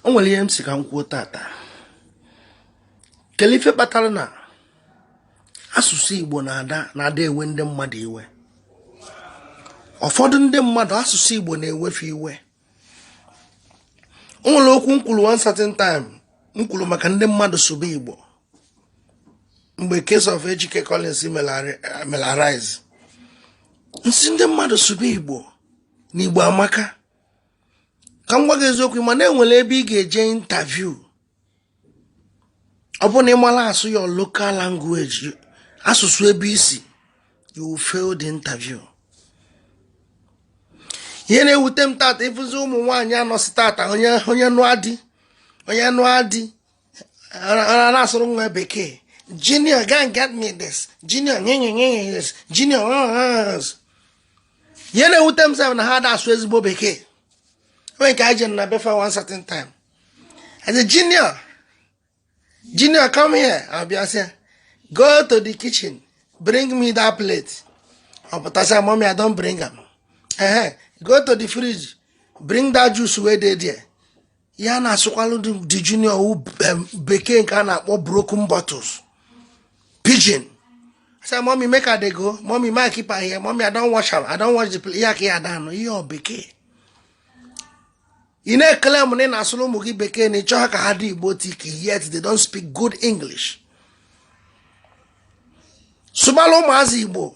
o nwere ihe m sị ka m kwuo tata kelee ife kpatara na asụsụ igbo na-ada na-ada ewe ndị mmadụ iwe ụfọdụ ndị mmadụ asụsụ igbo na-ewe fa iwe o nwere okwu m kwuru one certain time m kwuru maka ndị mmadụ sụba igbo mgbe case of Ejike Collins melu arise m sị ndị mmadụ sụba igbo na igbo amaka ka m gwa gị eziokwu ị ma na e nwere ebe ị ga-eje interview ọ bụrụ na ị marọ asụ your local language asụsụ ebe i si you will fail the interview ihe na-ewute m tata ị fụzi ụmụ nwaanyị a nọsị tata onye nụa di onye nụa di a na-asụrụ nwa bekee junior go and get me this junior nye nye nye nye this junior ihe na-ewute m sef na ha ada asụ ezigbo bekee onwe nke anyị jere na befa one certain time as a junior junior come here abịa sị go to the kitchen bring me that plate ọ pụtasịa mommy i don bring am ehe go to the fridge bring that juice wey dey there ya na-asụkwalụ the junior bekee nke a na-akpọ broken bottles pidgin say mommy make i dey go mommy make i keep am here mommy i don wash am i don wash the plate ihe aka ya danụ ihe ọ bekee ị na-eclaim na ị na-asụrụ ụmụ gị bekee na ị chọha ka ha dị igbotic yet they don't speak good english sụbalụ ụmụazị igbo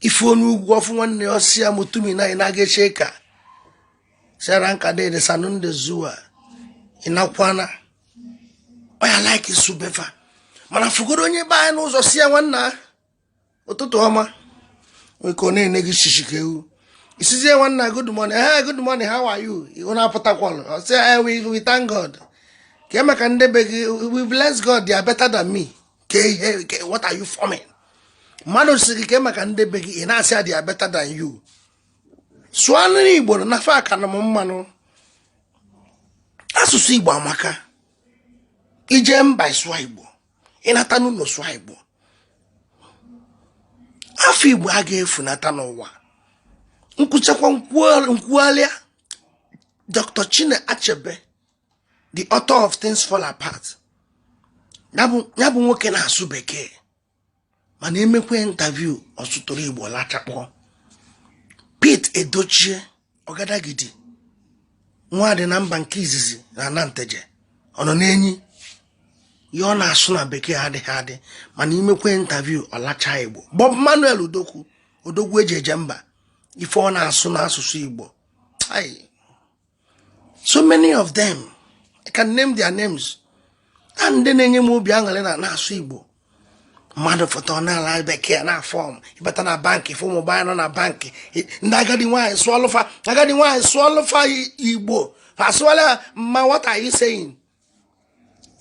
ị fụ onye ugwu ọ fụ nwanne ya ọ sị ya mutumina ina gaishe ka ranka dede sannu da zuwa ina kwana ọ ya like ịsụ be fa mana fụgodu onye be anyị n'ụzọ sị ya nwanna ụtụtụ ọma nee ka ọ na-ene gị shishi ka ewu ị sịzie nwanna good morning hey eh, good morning how are you ihu na-apụtakwalụ ọ sị eh, we thank God kee maka ndị be gị we bless God they are better than me kee ihe what are you forming mmadụ sị gị kee maka ndị be gị ị na-asị they are better than you sụanị igbo na nafe aka na m mmanụ asụsụ igbo amaka i je mba sụọ igbo ị nata n'ụnọ sụọ igbo afa igbo aga efunata n'ụwa m kwuchakwa m kwughalịa dr chinua achebe the author of things fall apart ya bụ nwoke na-asụ bekee mana e mekwa interview ọ sụtụrụ igbo lachakpọ Pete Edochie ọgadagidi nwa dị na mba nke izizi na Nteje ọ nọ n'enyi ihe ọ na-asụ na bekee adịghị adị mana i mekwe interview ọ lacha igbo Bob Manuel Udokwu odogwu e ji eje mba ife ọ na-asụ n'asụsụ igbo so many of them I can name their names and ọ na-enye m obi aṅụrị na na-asụ Igbo mmadụ fụta n'ala bekee a na-aform ị bata na bankị ị fụ ụmụ agbọ nọ na bankị ndị agadi nwaanyị sụọlụ fa agadi nwaanyị sụọlụ fa Igbo asụọla ma what are you saying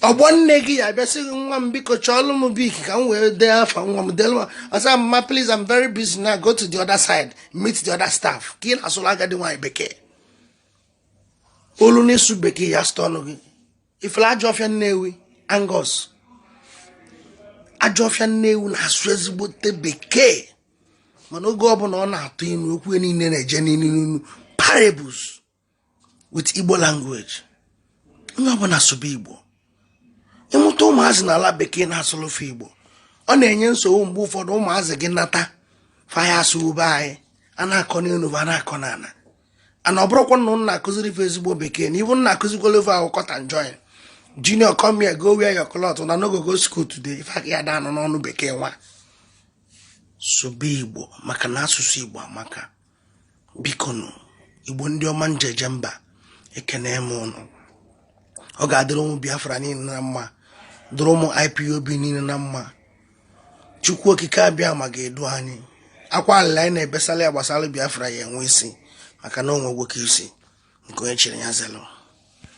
ọgbọ nne gị ya bịa sị gị nwa m biko chọọlụ m bic ka m wee dee afa nwa m delu m ị sị ma please I'm very busy now go to the other side meet the other staff ka ị na-asụlụ agadi nwaanyị bekee olu n'ịsụ bekee ya site ọnụ gị ị fụlụ ajọ ọfịa nnewi angos ajọ ọfịa nnewi na-asụ ezigbote bekee mana oge ọbụla ọ na-atụ inu okwu niile na-eje n'inu parables with Igbo language onye ọbụla sụba Igbo ị mụta ụmụazị na ala bekee na-asụlụ fa Igbo ọ na-enye nsogbu mgbe ụfọdụ ụmụazị gị nata fa ya asụgbube anyị a na-akọ n'elu a na-akọ n'ala and ọ bụrụkwa na ụnụ na-akụziri fa ezigbo bekee na ị bụ nna akụzikwala ife ahụ cut and join junior come here go wear your cloth una no go go school today ife a ka ya daanụ n'ọnụ bekee nwa sụba igbo maka na asụsụ igbo amaka bikonụ igbo ndị ọma njeje mba ekene m ụnụ ọ ga-adịrị ụmụ biafra niile na mma dịrị ụmụ ipob niile na mma chukwu okike abịama ga-edu anyị akwa alịlị anyị na-ebesala ya gbasara biafra ya enwe isi maka na o nwe nwoke isi ike onye chiri ya zelu